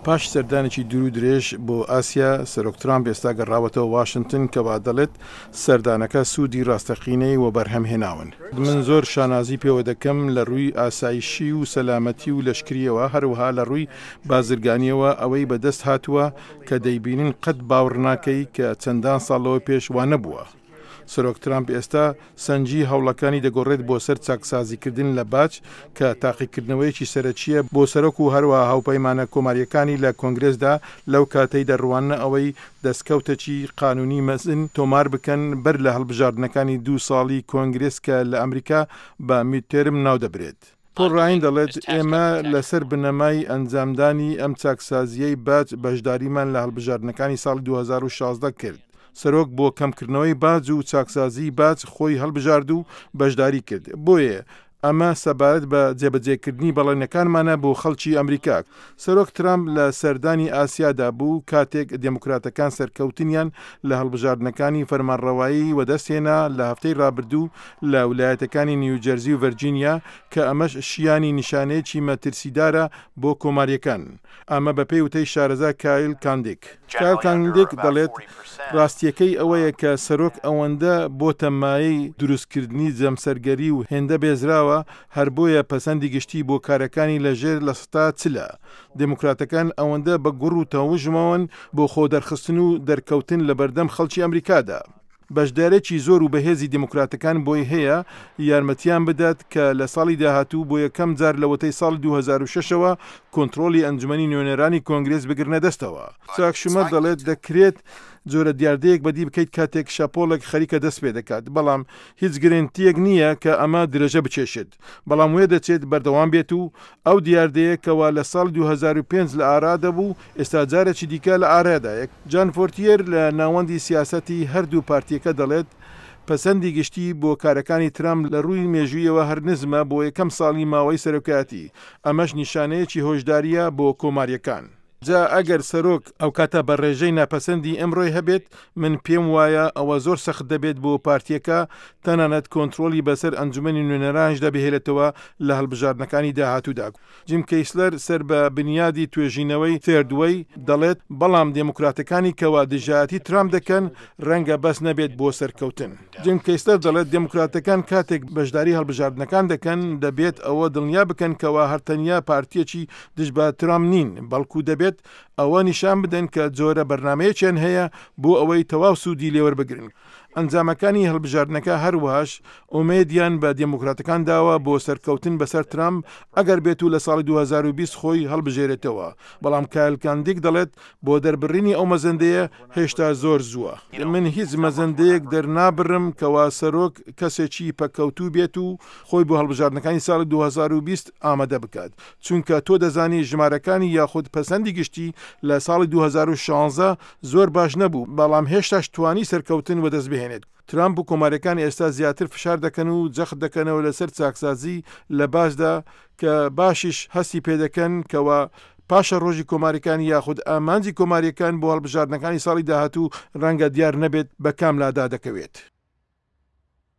پاش سەردانێکی دوور و درێژ بۆ ئاسیا، سەرۆک ترامپ ئێستا گەڕاوەتەوە واشنتن، کە وا دەڵێت سەردانەکە سوودی ڕاستەقینەی وەبەرهەم هێناون. من زۆر شانازی پێوە دەکەم لە ڕووی ئاسایشی و سەلامەتی و لەشکرییەوە، هەروەها لە ڕووی بازرگانییەوە ئەوەی بەدەست هاتووە کە دەیبینن قەت باوڕ ناکەی کە چەندان ساڵ لەوە پێش وا نەبووە. سەرۆک ترامپ ئێستا سەنگی هەوڵەکانی دەگۆڕێت بۆ سەر چاکسازیکردن لە باج، کە تاقیکردنەوەیەکی سەرەکییە بۆ سەرۆک و هەروەها هاوپەیمانە کۆمارییەکانی لە کۆنگرێسدا لەو کاتەی دەڕواننە ئەوەی دەستکەوتەکی قانونی مەزن تۆمار بکەن بەر لە هەڵبژاردنەکانی دوو ساڵی کۆنگرێس کە لە ئەمریکا بە میدتێرم ناودەبرێت. پۆڵ ڕاین دەڵێت، ئێمە لەسەر بنەمای ئەنجامدانی ئەم چاکسازییەی باج بەشداریمان لە هەڵبژاردنەکانی ساڵی دوو هەزار و شازدە کرد. سەرۆک بۆ کەمکردنەوەی باج و چاکسازیی باج خۆی هەڵبژارد و بەشداری کرد، بۆیە ئەمە سەبارەت بە جێبەجێکردنی بەڵێنەکانمانە بۆ خەڵکی ئەمریکا. سەرۆک ترامپ لە سەردانی ئاسیادا بوو، کاتێک دێموکراتەکان سەرکەوتنیان لە هەڵبژاردنەکانی فەرمانڕەوایی وەدەستهێنا لە هەفتەی رابردوو لە ولایەتەکانی نیوجەرزی و ڤەرجینیا کە ئەمەش شیانی نیشانەیەکی مەترسیدارە بۆ کۆماریەکان ئەمە بەپێی وتەی شارەزا کایل کاندیک. کایل کاندیک دەڵێت راستیەکەی ئەوەیە کە سەرۆک ئەوەندە بۆتە مایەی دروستکردنی جەمسەرگەری و هێندە بێزراوە هەر بۆیە پەسەندی گشتی بۆ کارەکانی لە ژێر لە سەتا چلە. دێموکراتەکان ئەوەندە بە گوڕ و تەوژمەوەن بۆ خۆ دەرخستن و دەرکەوتن لە بەردەم خەڵکی ئەمریکادا. بەشدارێکی زۆر و بەهێزی دێموکراتەکان بۆی هەیە یارمەتیان بدات کە لە ساڵی داهاتوو بۆ یەکەم جار لەوەتەی ساڵی دوو هەزار و شەش ەوە کۆنتڕۆڵی ئەنجومەنی نوێنەرانی کۆنگرێس بگرنە دەستەوە. چاک شومەر دەڵێت دەکرێت جۆرە دیاردەیەک بەدی بکەیت کاتێک شەپۆڵێک خەریکە دەست پێدەکات، بەڵام هیچ گرێنتییەک نییە کە ئەمە درێژە بکێشێت، بەڵام وێدەچێت بەردەوام بێت و ئەو دیاردەیە کەوا لە ساڵی دوو هەزار و پێنج لە ئارا دەبوو، ئێستا جارێکی دیکە لە ئارادایە. جان فۆرتیەر لە ناوەندی سیاسەتی هەردوو پارتییەکە دەڵێت، پەسەندی گشتی بۆ کارەکانی ترامپ لە رووی مێژوویەوە هەر نزمە بۆ یەکەم ساڵی ماوەی سەرۆکایەتی، ئەمەش نیشانەیەکی هۆشدارییە بۆ کۆمارییەکان. جا ئەگەر سەرۆک ئەوکاتە بە ڕێژەی ناپەسەندی ئەمڕۆی هەبێت، من پێم وایە ئەوە زۆر سەخت دەبێت بۆ پارتییەکە تەنانەت کۆنترۆڵی بەسەر ئەنجومەنی نوێنەرانیشدا بهێلێتەوە لە هەڵبژاردنەکانی داهاتوودا. جیم کەیسلەر سەر بە بنیادی توێژینەوەی Third Way دەڵێت، بەڵام دێموکراتەکانی کەوا دژایەتی ترامپ دەکەن، ڕەنگە بەس نەبێت بۆ سەرکەوتن. جیم کەیسلەر دەڵێت دێموکراتەکان کاتێک بەشداری هەڵبژاردنەکان دەکەن، دەبێت ئەوە دڵنیا بکەن کەوا هەر تەنیا پارتییەکی دژ بە ترامپ نین، بەڵکو دەبێت ئەوە نیشان بدەن کە جۆرە بەرنامەیەکیان هەیە بۆ ئەوەی تەواو سوودی لێوەربگرن. ئەنجامەکانی هەڵبژاردنەکە هەروەهاش ئومێدیان بە دێموکراتەکان داوە بۆ سەرکەوتن بەسەر ترامپ ئەگەر بێتو لە ساڵی دوو هەزار و بیست خۆی هەڵبژێرێتەوە، بەڵام کایل کاندیک دەڵێت بۆ دەربڕینی ئەو مەزەندەیە هێشتا زۆر زووە. من هیچ مەزەندەیەک دەرنابڕم کەوا سەرۆک کەسێکی پەککەوتوو بێت و خۆی بۆ هەڵبژاردنەکانی ساڵی دوو هەزار و بیست ئامادە بکات، چونکە تۆ دەزانی ژمارەکانی یاخود پەسەندی گشتی لە ساڵی دوو هەزار و شانزە زۆر باش نەبوو، بەڵام هێشتاش توانی سەرکەوتن وەدەستبهێنێت. ترامپ و کۆمارەکانی ئێستا زیاتر فشار دەکەن و جەخت دەکەنەوە لەسەر چاکسازی لە باشدا کە باشیش هەستی پێدەکەن کەوا پاشەڕۆژی کۆماریکانی یاخود ئامانجی کۆماریەکان بۆ هەڵبژاردنەکانی ساڵی داهاتوو ڕەنگە دیار نەبێت بە کام لادا دەکەوێت.